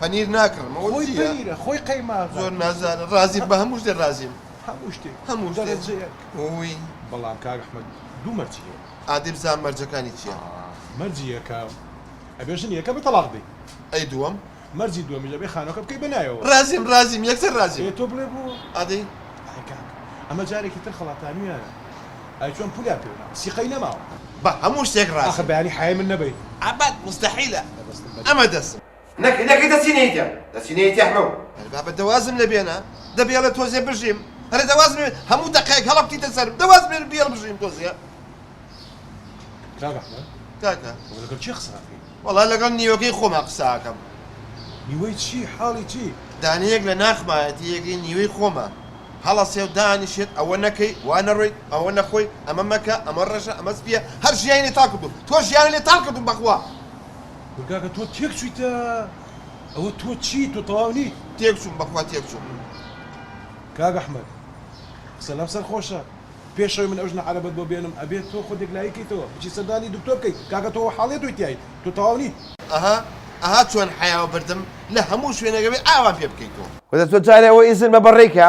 پەنیر ناکڕم ئەوە خۆی چیە؟ پەنیرە خۆی قەیماغە زۆر نازانە ڕازیم بە هەموو شتێ ڕازیم هەموو شتێک هەموو شتێ دەرەجە یەک ووی. بەڵام کاک احمد دوو مەرجی هەیە. ئادەی بزانم مەرجەکانی چیە. ئا مەرجی یەکەم ئەبێ ژنی یەکەمت تەڵاق بدەی. ئەی دووەم. مەرجی دووەمیش ئەبێ خانوەکە بکەی بە نایەوە. ڕازیم ڕازیم یەکسەر ڕازیم. ئێ تۆ بڵێ بۆ. ئادەی. ئای کاک ئەمە جارێکی تر خەڵاتانویانە ئای چۆن پولیان پێ ناوە سیقەی نەماوە. بە هەموو شتێک ڕازیم. ئاخر بەیانی حەیای من نەبەیت. ئەبەد موستەحیلە ئەمە دەسم. نەکەی نەکەی دەچی نەیتە دەچی نەیتە حمە هەر بابە دەوازم لە بێنە دەبێڵە تۆزێ بژیم هەرە دەواز هەموو دەقێک هەڵە بکەیتە سەر دەواز بێن بێڵ بژیم تۆزێ کاکە لەگەڵ چی قساکەی وەڵا لەگەڵ نیوەکەی خۆما قساکەم نیوەی چی حاڵی چی دانەیەک لە ناخمایەتی یەکەی نیوەی خۆمە هەڵە سێو دانیشێت ئەوە نەکەی وا نەڕۆیت ئەوە نەخۆی ئەمە مەکە ئەمە ڕەشە ئەمە سپیە هەر ژیانی لێ تاڵ کردووم تۆ ژیانی لێ تاڵ کردووم بەخوا کورد کاکە تۆ تێک چویتە ئەوە تۆ چیت تۆ تەواو نیت. تێک چوم بەخوا تێک چوم. کاک احمد قسە لەم سەر خۆشە پێش ئەوەی من ئەو ژنە عەرەبەت بۆ بێنم ئەبێت تۆ خۆت یەکلایی کەیتەوە بچی سەردانی دکتۆر بکەیت کاکە تۆ وەحاڵیە تۆی تیایت تۆ تەواو نیت. ئەها ئەها چۆن حەیاو بردم لە هەموو شوێنێک ئەبێ ئاوام پێ بکەیتۆ. کورە تۆ جارێ ئەوە ئیزن بە بەڕێی کە.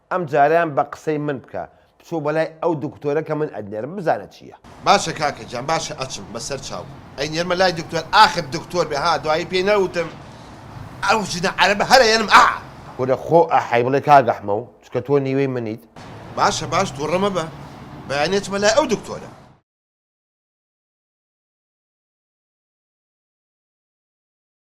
ئەم جارەیان بە قسەی من بکە بچۆ بەلای ئەو دکتۆرە کە من ئەتنێرم بزانە چیە. باشە کاکە گیان باشە ئەچم بەسەر چاو ئەینێرمە لای دکتۆر ئاخر دکتۆر بێ ها دوایی پێی نەوتم ئەو ژنە عەرەبە هەر ئەیەنم ئاا. کورە خۆ ئەحەی بڵێ کاک ئەحمەو چکە تۆ نیوەی منیت. باشە باش توڕە مەبە بەیانی ئەچمە لای ئەو دکتۆرە.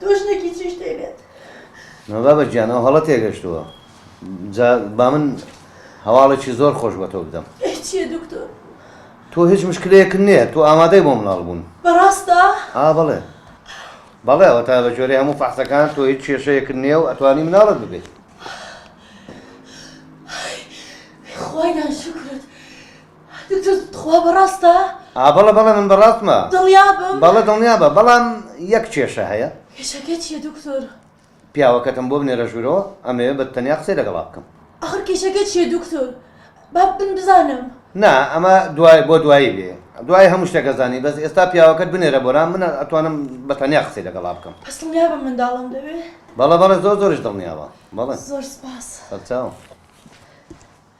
تۆ ژنێکی چی شتێ بێت. نا بابە گیان ئەو هەڵە تێگەشتووە جا با من هەواڵێکی زۆر خۆش بە تۆ بدەم چیە دکتۆر تۆ هیچ مشکلەیەکن نییە تۆ ئامادەی بۆ مناڵ بوون بەڕاستە ئا بەڵێ بەڵێ ئەوە تا بە جۆرە هەموو فەحسەکان تۆ هیچ کێشەیەکن نییە و ئەتوانی مناڵت ببێت خۆیان شکرت دکتۆر تخوا بەڕاستە؟ ئا بەڵێ بەڵێ من بەڕاستمە. دڵنیابم؟ بەڵێ دڵنیابە بەڵام یەک کێشە هەیە. کێشەکە چیە دکتۆر؟ پیاوەکەتم بۆ بنێرە ژوورەوە ئەمەوێ بە تەنیا قسەی لەگەڵا بکەم. ئاخر کێشەکە چیە دکتۆر با من بزانم. نا ئەمە دوای بۆ دوایی بێ دوای هەموو شتێک ئەزانی بەس ئێستا پیاوەکەت بنێرە بۆرام من ئەتوانم بە تەنیا قسەی لەگەڵا بکەم. بەس دڵنیابە منداڵم دەوێ؟ بەڵێ بەڵێ زۆر زۆریش دڵنیابە بەڵێ. زۆر سوپاس. سەرچاو.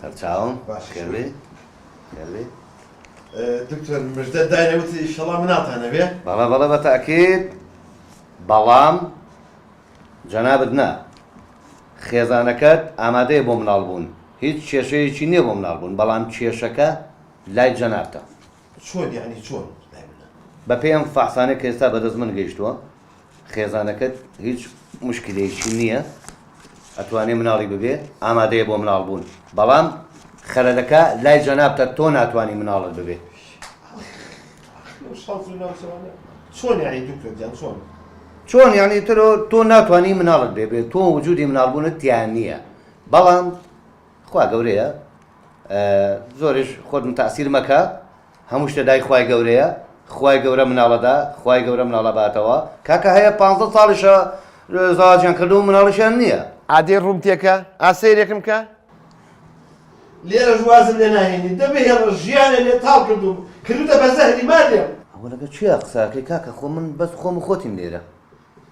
سەرچاوم خێربێ خێربێ دکتۆر مژدە دایە وتی ئیشەڵا مناتانە بێ بەڵە بەڵە بە تاکیت بەڵام جەنابەت نا خێزانەکەت ئامادەیە بۆ مناڵ بوون هیچ کێشەیەکی نییە بۆ مناڵ بوون بەڵام کێشەکە لای جەنابتە چۆن یعنی چۆن بە پێم فەحسانە کە ئێستا بەدەست من گەیشتووە خێزانەکەت هیچ موشکیلەیەکی نیە ئەتوانێ مناڵی ببێ ئامادەیە بۆ مناڵ بوون بەڵام خەلەلەکە لای جەنابتە تۆ ناتوانی مناڵت ببێ. چۆن یانی دکتۆر جان چۆن؟ چۆن یانی ترۆ تۆ ناتوانانی مناڵت بێ بێ تۆ وجودی مناڵبوونت تیان نییە بەڵام خوا گەورەیە زۆرش خۆت تاسیر مەکە هەموو شتە دای خوای گەورەیە خوای گەورە مناڵەدا خوای گەورە مناڵە باتەوە کاکە هەیە پ ساڵیشە زاجان کردو مناڵیشیان نییە. ئادەی ڕووم تێکە ئا سەیرێکم کە. لێرەش وازم لێ ناهێنی دە بهێڵە ژیانێ لێ تاڵ کردووم کردووتە بە زەهری مادێم. ئەوە لەگەڵ کێیە قسە ئەکەی کاکە خۆ من بەس خۆم و خۆتین لێرە.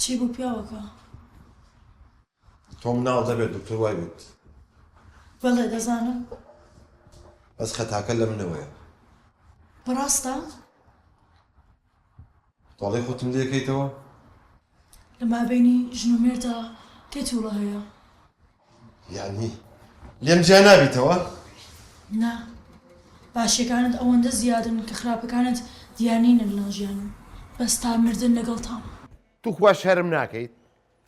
چی بوو پیاوەکە؟ تۆم ناو دەبێت دکتۆر وای وت بەڵێ دەزانم بەس خەتاکە لە منەوەیە بەڕاستە؟ تۆڵەی خۆتم لێ کەیتەوە. لە مابەینی ژن و مێرددا کێ تووڵە هەیە؟ یانی لێم جیا نابیتەوە؟ نا، باشیەکانت ئەوەندە زیادن کە خراپەکانت دیار نینە لەناو ژیانم، بەس تا مردن لەگەڵتام. توخوا شەرم ناکەیت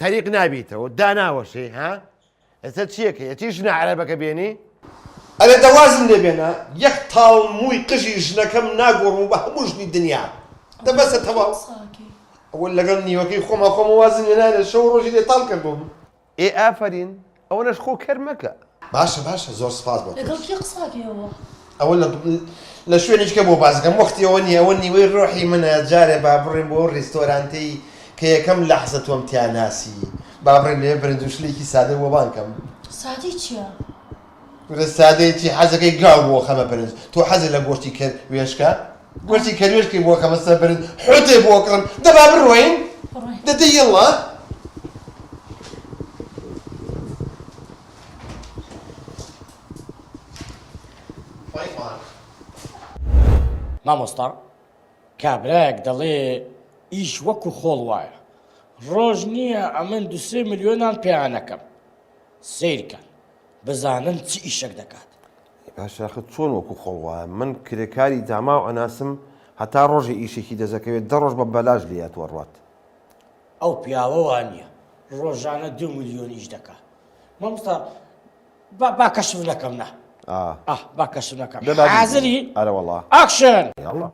تەریق نابیتەوە داناوەشێی ها ئێستا چیەکەی ئەچی ژنە عەرەبەکە بێنی. ئەرێ دە وازم لێ بێنە یەک تاڵ مووی قژی ژنەکەم ناگۆڕم و بە هەموو ژنی دنیا دە بەسە تەواو ئەوە لەگەڵ نیوەکەی خۆما خۆمە وازم لێ نایە شەو و ڕۆژی لێ تاڵ کردووم. ئێ ئافەرین. ئەوەنەش خۆ کەر مەکە. باشە باشە زۆر سپاس بۆ تۆش. لەگەڵ کێ قسە ئەکەی ئەوە. ئەوە لە لە شوێنی تکە بۆ باس ئەکەم وەختی ئەوە نیە ئەوە نیوەی ڕۆحی منە جارێ با بڕێم بۆ ئەو ڕیستۆرانتەی کە یەکەم لەحزە تۆم تیا ناسی با بڕێم لەوێ برنج و شلێکی سادە بۆ بان کەم. سادەی چیە؟ ورە سادەی چی حەزەکەی گاو بۆ خەمە برنج تۆ حەزت لە گۆشتی کەر وێشکە؟ وتی کە نوێژ کەی بۆ کە بەسەر برن حوتێ بۆ کڕم دە با بڕۆین دە دە یڵا مامۆستا کابرایەک دەڵێ ئیش وەکو خۆڵ وایە ڕۆژ نییە ئەمن دوسێ ملیۆنان پێیانەکەم سیرکە بزانن چ ئیشەک دەکات ئەی باشە ئەخە چۆن وەکو خۆڵ وایە من کرێکاری داماو ئەناسم هەتا ڕۆژێ ئیشێکی دەسەکەوێت دە ڕۆژ بە بەلاش لێی ئەتوەڕوات. ئەو پیاوە وانیە ڕۆژانە دوو ملیۆن ئیش دەکا مامۆستا با با کەشف نەکەم نا ئا ئا با کەشف نەکەم دەبا حازری ئەرە وەڵا ئاکشن یاڵڵا.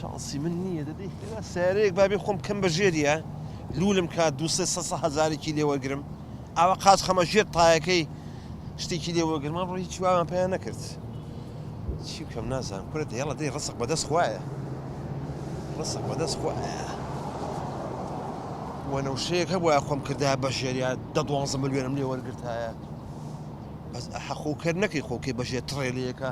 شانسی من نییە دەدەی هێنا سیارەیەک بابێ خۆم کەم بە ژێریە لولم کات دو هزارێکی لێ وەرگرم ئاوە قاچ خەمە ژێر تایەکەی شتێکی لێ وەرگرمان ڕۆی چواوان پێیان نەکرد چی بکەم نازان کورە دێڵە دەی ڕسق بەدەست خوایە ڕسق بەدەست خوایە وەنەوشەیەک هەبووە خۆم کردا بە ژێریا دە دوانزە ملیۆنم لێ وەرگرتایە بەس حەخۆکرد نەکەی خۆکەی بەژێ تڕێلەکە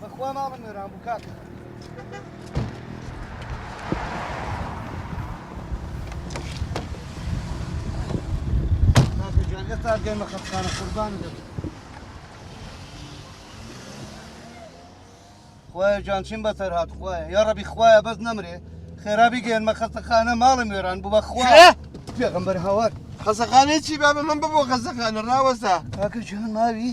بەخوا ماڵم وێران بوو کاکە. کاکە گیان ئێستا گەیمە خەفخانە قوربان دەبم. خوایە جان چیم بەسەر هات خوایە یا ڕەبی خوایە بەس نەمرێ خێرابی گەێنمە خەستەخانە ماڵم وێران بوو بە خوا پێغمبەر هاوار خەزەخانەی چی بابە من ببوو خەزەخانە ڕاوەسا کاکە جان ماوی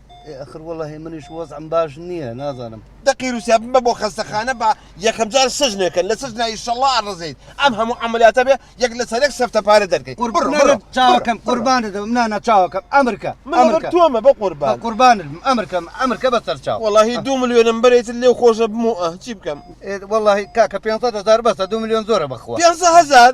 ئەخر وەڵی منیش وەزم باش نییە نازانم دەقی رووسیا بمە بۆ خەستەخانە بە یەکەمجار سژنێکە لە سژنا ئیشەڵا ئەڕزیت ئەم هەموو ئەعملیاتە بێ یەک لە سەرێک سەفتە پارە دەرکەیت چاوەکەم قوربانە دەم نانا چاوەکەم ئەمرکە تۆمە بە قوربان قوربانم ئەمرکەم ئەمرکە بە سەرچاو وڵی دو ملیۆنم بەرێت لێ خۆشە بمە چی بکەم وڵی کاکە پێ هزار بەسە دو ملیۆن زۆرە بخوازار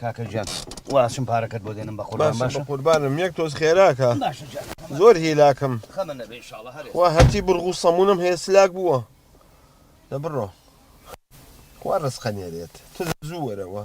کاکە جان واسم پارەکەت بۆ دێنم بە قوربان باشە قوربانم یەک تۆز خێراکە زۆر هیلاکم وا هەتی بڕغ و سەمونم هەیە سلاک بووە دە بڕۆ خوا ڕستقە نێرێت تز زوو وەرەوە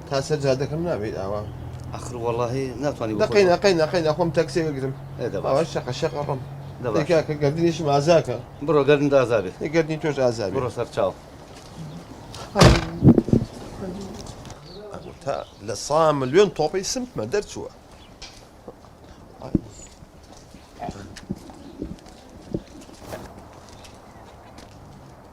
تا سەر جادەکەم نابیت ئاوا. ئەخر وەڵاهی ناتوانی بخۆی دەقەی نەقەی نەقەی نەخۆم تەکسێ بگرم ئەوە شەقە شەق ئەڕۆم دەبا کاکە گەردنیشم ئازاکە بڕۆ گەردن دازابێ گەردنی تۆش ئازابێ بڕۆ سەر چاو تا لە سا ملیۆن تۆپی سمتمە دەرچووە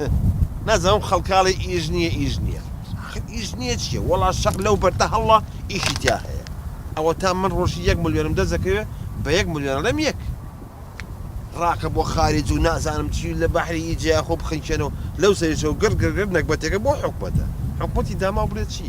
هه نازم ئەم خەڵکاڵی ئیش نییە ئیش نییە ئاخر ئیش نییە چییە وەڵا شەق لەو بەردە هەڵڵا ئیشی تیا هەیە ئەوە تا من ڕۆژی یەک ملیۆنم دەزەکەوێ بە یەک ملیۆن ئەڵێم یەک ڕاکە بۆ خارج و نازانم چی لە بەحری ئی جیا خۆ بخنکێنەوە لەو سەریشەوە گڕ گڕ گڕ نەگبەتێکە بۆ حکومەتە حکومەتی داماو بڵێ چی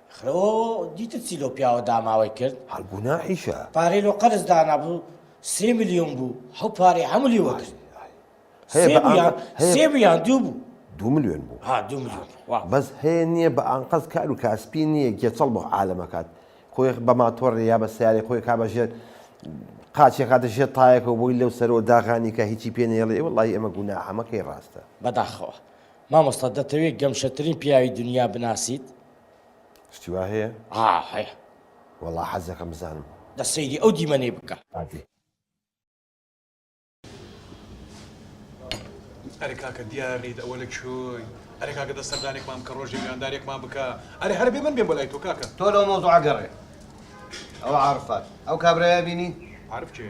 خۆ دیتت چی لەو پیاوە داماوەی کرد. هەر گوناحیشە. پارەی لۆ قەرز دانابو سێ ملیۆن بو هەو پارەی هەمو لێ وەرگرت. سێ بو یان سێ بو یان دوو بو. دوو ملیۆن بو. ها دوو ملیۆن بو. بەس هەیە نیە بە ئانقەست کارو کاسپی نیە گێچەڵ بۆ عالەم ئەکات خۆی بە ماتۆڕێ یا بە سەیارەی خۆی کا بە ژێر قاچی ئەکاتە ژێر تایەکەوە بۆی لەو سەرەوە داغانی کە هیچی پێ نەیەڵێ ئێ وەڵڵاهی ئەمە گوناحە مەکەی ڕاستە. بەداخەوە. مامۆستا دەتەوێ گەمژەترین پیاوی دونیا بناسیت؟ شتی وا هەیە؟ ئا هەیە. وەڵا حەزەکەم بزانم. دە سەیری ئەو دیمەنەی بکە. ئادی. ئەرێ کاکە دیاریت ئەوە لە کوێی؟ ئەرێ کاکە دە سەردانێکمان بکە ڕۆژێ میواندارێکمان بکە. ئەرێ هەر بێ من بێم بۆ لای تۆ کاکە. تۆ لەو مەوزوعە گەڕێ. ئەوە عارفات. ئەو کابرایە بینی؟ عارف کێ؟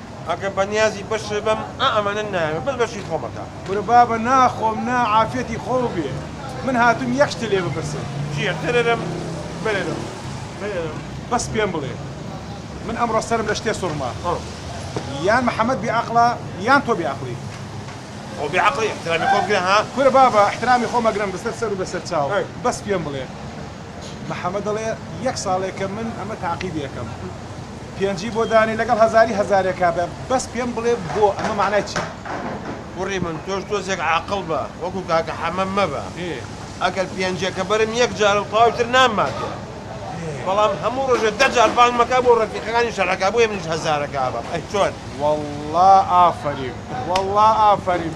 ئەگەر بەنیازی بەشت بم ئا ئەمەنە نایەوێ بەس بەشی خۆم ئەکا. کورە بابە ناخۆم نا عافیەتی خۆو بێ من هاتوم یەک شتە لێ بپرسم. جیە تەرەرەم بەرەرەم بەرەرەم. بەس پێم بڵێ من ئەمڕۆ سەرم لە شتێ سوڕما یان محمد بێ ئەقڵە یان تۆ بێ ئەقڵی. خۆ بێ ئەقڵی ئیحترامی خۆ بگرە ها. کورە بابە ئیحترامی خۆم ئەگرم بەسەر سەر و بەسەر چاو بەس پێم بڵێ محەمەد دەڵێ یەک ساڵێکە من ئەمە تاقیبی ئەکەم پێنجی بۆ دانێ لەگەڵ هەزاری هەزارێکا بە بەس پێم بڵێ بۆ ئەمە مەعنای چیە؟ کوڕی من تۆش تۆزێک عاقڵ بە وەکو کاکە حەمە مەبە ئەگەر پێنجەکە بەرم یەک جارە و تەواوی تر نامماتێ بەڵام هەموو ڕۆژێ دە جار بانگ مەکە بۆ ڕەفیقەکانی شەڕەکە بۆیە منیش هەزارەکا بەم ئەی چۆن؟ وەڵڵا ئافەریم وەڵڵا ئافەریم.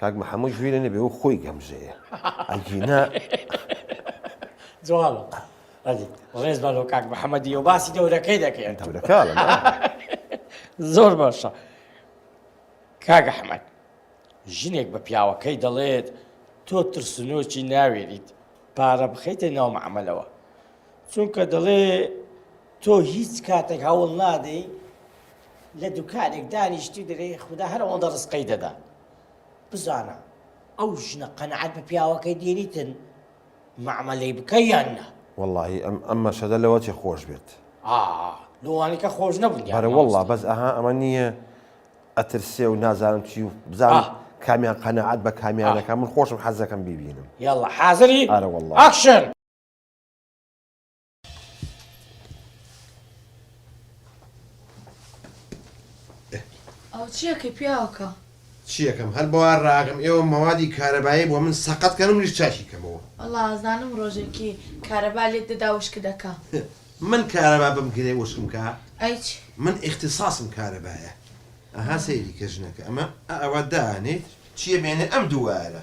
کاک محمد ژیرە نەبێ و خۆی گەمژەیە ئەگینا. جوابە ئەدی ڕێز بە لۆ کاک محەممەدی و باسی دەورەکەی دەکەێت دەورەکە زۆر باشە کاگە حمد ژنێک بە پیاوەکەی دەڵێت تۆ ترسنۆکی ناوێریت پارە بخەیتە ناو معملەوە چونکە دەڵێ تۆ هیچ کاتێک هەوڵ نادەی لە دوکانێک دانیشتی دەێ خوددا هەر ئەوەندە ڕستقەی دەدا بزانە ئەو ژنە قەنەعات بە پیاوەکەی دێریتن معمەلەی بکە یان نا واللهی ئەم ئەم مەشەدە لەوە چێ خۆش بێت لەوانەکە خۆش نەبوو بەرە والله بەس ئەها ئەمە نییە ئەترسێ و نازانم چی و بزانم کامیان قەنەعات بە کامیانەکە من خۆشم حەزەکەم ببینم یاڵە حاضری ئارە والله ئاکشن ئەو چیەکە پیاوەکە چیەکەم هەر بەوا ڕاگەم ئێوە مەوادی کارەبایی بۆ من سەقەت کەم منیش چاشی کەمەوە والله ئازانم ڕۆژێکی کارەبا لێت دەدا وشک دەکا من کارەبا بم گرێ وشکم کا ئەیچ من ئیختصاصم کارەبایە ئەها سەیری کە ژنەکە ئەمە ئەوە دانێ چیە بێنێ ئەم دووارە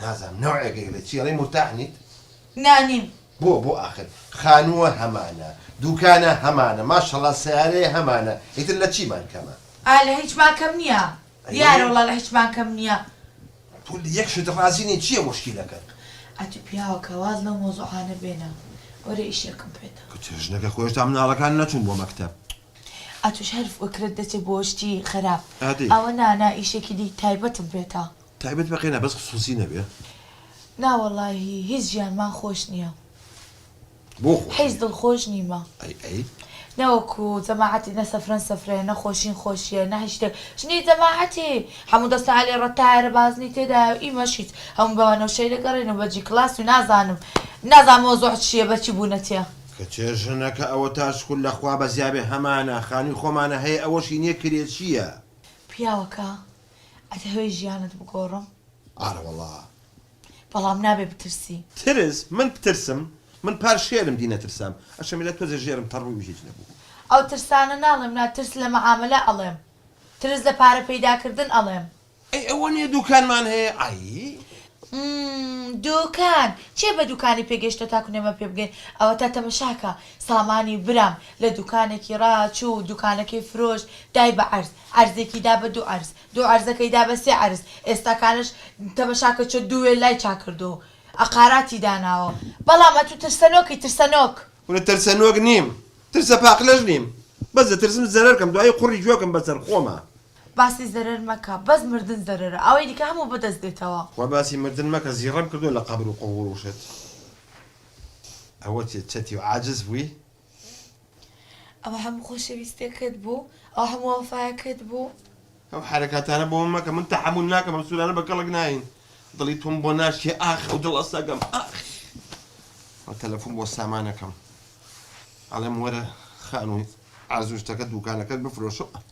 نازانم نەوعێک ئەیڵێ چی ئەڵێی مورتاح نیت؟ نا نیم. بۆ بۆ ئاخر خانووە هەمانە دووکانە هەمانە ماشەڵا سەیارەیە هەمانە ئیتر لە چیمان کەمە؟ ئا لە هیچمان کەم نییە دیارە وەڵا لە هیچمان کەم نییە. تۆ لە یەک شت ڕازی نی چییە مشکیلەکەت؟ ئەتوو پیاوەکە واز لەو مەوزوعانە بێنە وەرە ئیشێکم پێتە. کچە ژنەکە خۆی هێشتا مناڵەکان نەچوون بۆ مەکتەب. ئەتووش هەر فکرت دەچێ بۆ شتی خەراپ ئەوە نا نا ئیشێکی دی تایبەتم پێتە. تایبەت بە قێنا بەس خسوسی نەبێ. نا وەڵاهی هیچ ژیانمان خۆش نیە بۆ خۆش حیز نیە؟ دڵخۆش نیمە ئەی ئەی. نەوەکو جەماعەتی نە سەفرەن سەفرەیە نە خۆشین خۆشیە نە هیچ شتێک ژنی جەماعەتی هەموو دەسە عەلی ڕە تایەرە بازنی تێدایە و ئیمەش هیچ هەموو بە وەنەوشەی دەگەڕێین و بە جی کڵاس و نازانم نازانم مەوزوع چیە بە چی بوونە تێ کچێ ژنە کە ئەوە تا شکور لە خوا بەزیابێ هەمانە خانوی خۆمانە هەیە ئەوەشی نیە کرێچیە. پیاوەکە ئەتهەوێ ژیانت بگۆڕم؟ ئارەوەڵا. بەڵام نابێ بترسی. ترس؟ من بترسم؟ من پار شێرم دی نەترسام. ئەشەمیلە تۆزێ ژێرم تەڕبووی و هیچ نەبوو. ئەو ترسانە ناڵێم نا، ترس لە مەعامەلە ئەڵێم. ترس لە پارە پەیداکردن ئەڵێم. ئەی ئەوە نیە دووکانمان هەیە؟ ئای. ممم دوکان چێ بە دوکانی پێگەشتوە تاکو نەمە پێ بگەین ئەوەتا تەمەشاکە سامانی برام لە دوکانەکی ڕا چوو دوکانەکەی فرۆشت دای بە عەرز عەرزێکی دا بە دوو عەرز دوو عەرزەکەی دا بە سێ عەرز ئێستاکانەش تەمەشاکە چۆ دوو وێللای چا کردوە و ئەقاراتی داناوە بەڵام ئەتوو ترسەنۆکی ترسەنۆک. کورە ترسەنۆک نیم ترسە پاقلەش نیم بەس دەترسم زەرەر کەم دوایی قوڕی گوێکم بەسەر خۆمە باسی زەرەر مەکە بەس مردن زەرەرە ئەوەی دیکە هەموو بەدەست دێتەوە. وە باسی مردن مەکە زیڕەم کردوە لە قەبر و قوبوڕوشت ئەوە چیە چەتی و عاجز بووی. ئەوە هەموو خۆشەویستیەکەت بوو ئەوە هەموو وەفایەکەت بوو. ئەو حەرەکاتانە بۆ من مەکە من تەحەمول ناکەم ئەم سورانە بە کەڵک ناین دڵی تۆم بۆ ناشکێ ئاخ ئەو دڵە سەگەم ئاخ وە تەلەفون بۆ سامانەکەم ئەڵێم وەرە خانووی ئازوو شتەکە دووکانەکەت بفرۆشە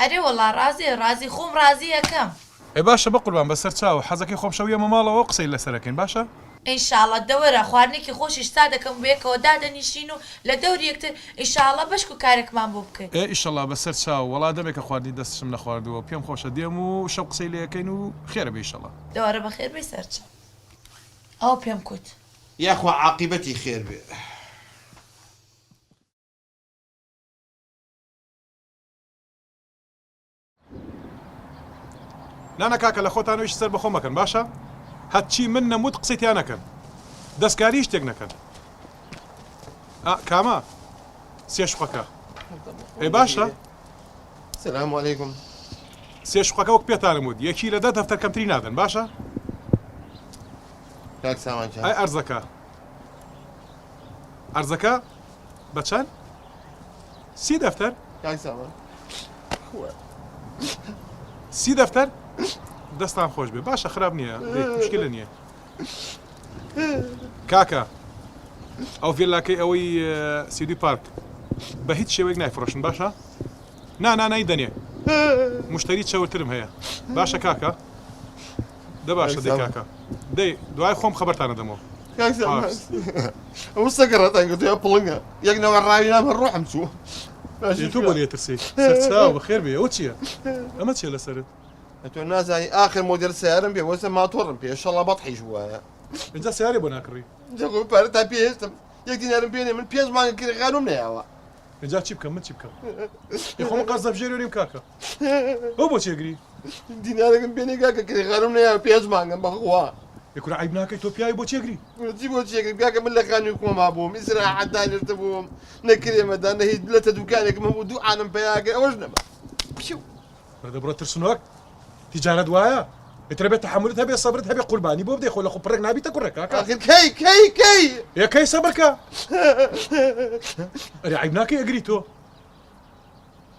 ئەرێ وەڵا ڕازێ ڕازی خۆم ڕازی ئەکەم. ئێ باشە بەقوربان بەسەر چاوە. حەزەکەی خۆم شەو یەمە ماڵەوە قسەی لەسەر ئەکەین باشە. ان شاءاللە دەوەرە خواردنێکی خۆشیش سا دەکەم و بەیەکەوە دادەنیشین و لە دەوری یەکتر ان شاءاللە بەشک و کارێکمان بۆ بکەی. ئێ ئیشەڵا بەسەر چاو. وەڵا دەمێکە خواردنی دەستشم نەخواردووە و پێم خۆشە دێم و شەو قسەی لێ ئەکەین و خێرە بێ ئیشەڵا. دەوەرە بەخێر بێی سەر چاو. ئەوە پێم کوت. یاخوا عاقیبەتی خێر بێ. نانا کاکە لە خۆتان ویش سەر بەخۆ مەکەن باشە هەچی من نەموت قسەی تیا نەکەن دەستکاری شتێک نەکەن کامە سێشقەکە ئەی باشە سلام علیکم سێشقەکە وەک پێتانم وت یەکی لە دە دەفتەر کەمتری نادەن باشە ئەرزەکە ئەرزەکە بە چەند؟ سی دەفتەر؟ کاک سامان خوە سی دەفتەر؟ دەستان خۆش بێ باشە خراپ نییە دەی مشکلە نییە کاکە ئەو ڤێلاکەی ئەوەی ئە، سیدی پارک بە هیچ شێوەیەک نایفرۆشن باشە نا نا نای دەنێ مشتری چەورترم هەیە باشە کاکە دە باشە دەی کاکە دەی دوای خۆم خەبەرتان ئەدەمەوە ئەو سەگە ڕەتان کردو یا پڵنگە یەک نەوە ڕاوی نام هەر ڕۆحم چوو تۆ بۆ لێترسی سەرچاو بەخێر بێ ئەوە چییە ئەمە چیە لەسەرت تۆ نازانی ئاخر مۆدل سیارم پێ وەسە ماتۆڕم پێ شەڵا بەت حیش وایە اینجا سیارێ بۆ ناکڕی جەگۆ پارە تا پێستم یەک دینارم پێێ من پێنج مانگە کرێخانم نەیەوە اینجا چی بکەم من چی بکەم خۆم قەزە بژێرێنیم کاکە ئەو بۆچی ئەگری؟ دینارەکەم پێ نەی کاکە کرێکارم نەیاوە پێنج مانگە بەخوا. ئێ کورە عەیب ناکەی تۆ پیاوی بۆچی ئەگری؟ کورە چی بۆچی ئەگریم کاکە من لە خانوی خۆما بووم ئیسراحەت دانیشتە بووم نە کرێ مەدان نە هیچ لەتە دوکانێکم هەبوو دوو عالم پەیا کرد ئەوەش نەما پیو. بڕە دەبڕە ترسنۆک تیجارەت وایە ئیتر ئەبێ تەحەمولت هەبێ سەبرت هەبێ قوربانی بۆ بدەی خۆ لە قوپڕێک نابیتە کوڕێ کاکە ئاخر کەی کەی کەی ئێ کەی سەبرکە ئەرێ عەیب ناکەی ئەگری تۆ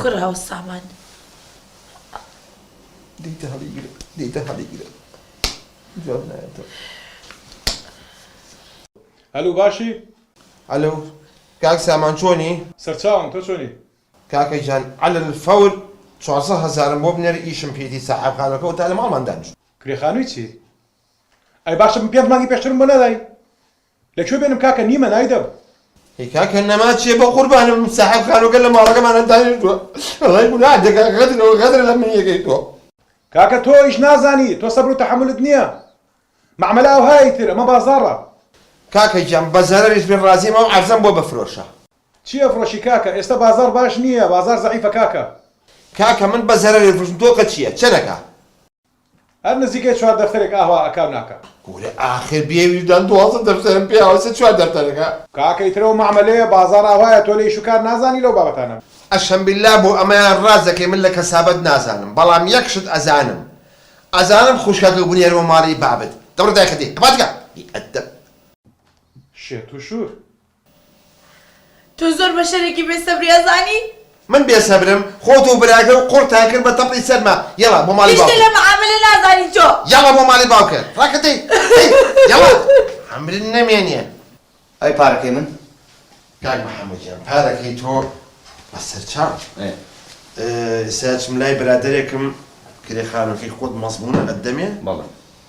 کوڕە ئەو سامان دیتە هەڵیگرە دیتە هەڵیگرە جواب نایەتەوە هەلو باشی؟ هەلو کاک سامان چۆنی؟ سەرچاوم تۆ چۆنی؟ کاکە گیان عەلە الفور چوار سەد هەزارم بۆ بنێرە ئیشم پێیەتی ساحێبخانوەکە ئەوتا لە ماڵمان دانیشتووە. کرێخانووی چی؟ ئەی باشە من پێنج مانگی پێشترم بۆ نەدای؟ لە کوێ بێنم کاکە نیمە نایدەم. ئەی کاکە نەما چیە بەقوربانم بم ساحێب خانوەکە لە ماڵەکەمانا دانیشتوە وەڵای گوناح دەکا غەدرەوە غەدرە لە منی یەکەی تۆ. کاکە تۆ ئیش نازانی تۆ سەبر و تەحەمولت نیە مەعمەلە ئەوهایە ئیتر ئەمە بازاڕە. کاکە گیان بە زەرەریش بێ ڕازیم ئەو عەرزەم بۆ بفرۆشە. چی ئەفرۆشی کاکە ئێستا بازاڕ باش نیە بازاڕ زەعیفە کاکە. کاکە من بە زەرەری ئەفرۆشم تۆ کە چیە چەنەکە. هەر نزیکەی چوار دەفتەرێک ئاهوا ئەکا و ناکا. کورە ئاخر بێ ویژدان دوازدە دەفتەرم پێ ئاوا چیە چوار دەفتەرەکە. کاکە ئیتر ئەو مەعمەلەیە بازاڕ ئاوایە تۆ لە ئیش و کار نازانی لەو بابەتانە. ئەشەم بیللا بۆ ئەمەیان ڕاست دەکەی من لە کەسابەت نازانم بەڵام یەک شت ئەزانم ئەزانم خوشکەکەو بنێرمە ماڵی بابت دەبڕ دایکە دێ هەپا جگە بی ئەدەب. شێت و شور. تۆ زۆر بەشەرێکی بێ سەبری ئەزانی. من بێ سەبرم خۆت و براکە و قوڕتان کرد بە تەپڵی سەرما یەڵا بۆ ماڵی باوکت. هیچ لە معامەلە نازانی تۆ. یەڵا بۆ ماڵی باوکت ڕاکە دەی دەی یەڵا عەمرت نەمێنێ. ئەی پارەکەی من؟ کاک محمد گیان پارەکەی تۆ بە سەر چاو ئێستا ئەچم لای برادەرێکم کرێ خانوەکەی خۆت مەزمونە ئەتدەمێ؟ بەڵێ.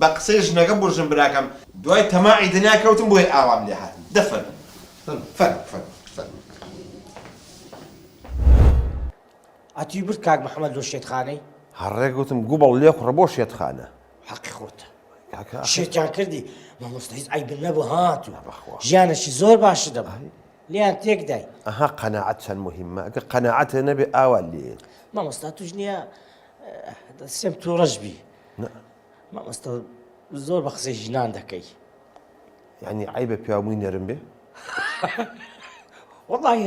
بە قسەی ژنەکە بۆ ژن براکەم. دوای تەماعی دنیا کەوتم بۆیە ئاوام لێ هات دە فەرموو فەرموو فەرموو فەرموو. ئەتووی برد کاک محمد لۆ شێتخانەی. هەڕێ گوتم گوبڵ لێ خوڕە بۆ شێتخانە. حەقی خۆتە کاکە ئاخر. شێتیان کردی مامۆستا هیچ عەیبم نەبوو هات و بەخوا. ژیانێکی زۆر باشت دەبوو لێیان تێک دای. ئەها قەناعەت چەند موهیمە ئەگەر قەناعەتێ نەبێ ئاوا لێ. مامۆستا توش نیە دەسێم توڕەش بی. مامۆستا زۆر بە قسەی ژنان دەکەی یعنی عیبە پیاومووی نەرم بێ وڵی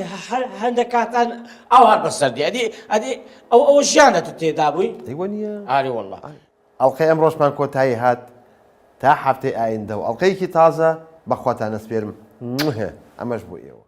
هەندێک کاتان ئاوار بەسەردی ئەدی ئەدی ئەو ئەو ژیانە تو تێدا بووی ئەیوە نیە ئاری وڵە ئەڵلقەی ئەم ڕۆژمان کۆتایی هات تا هەفتەی ئایندە و ئەڵلقەیەکی تازە بەخواتانە سپێرم ئەمەش بۆ ئێوە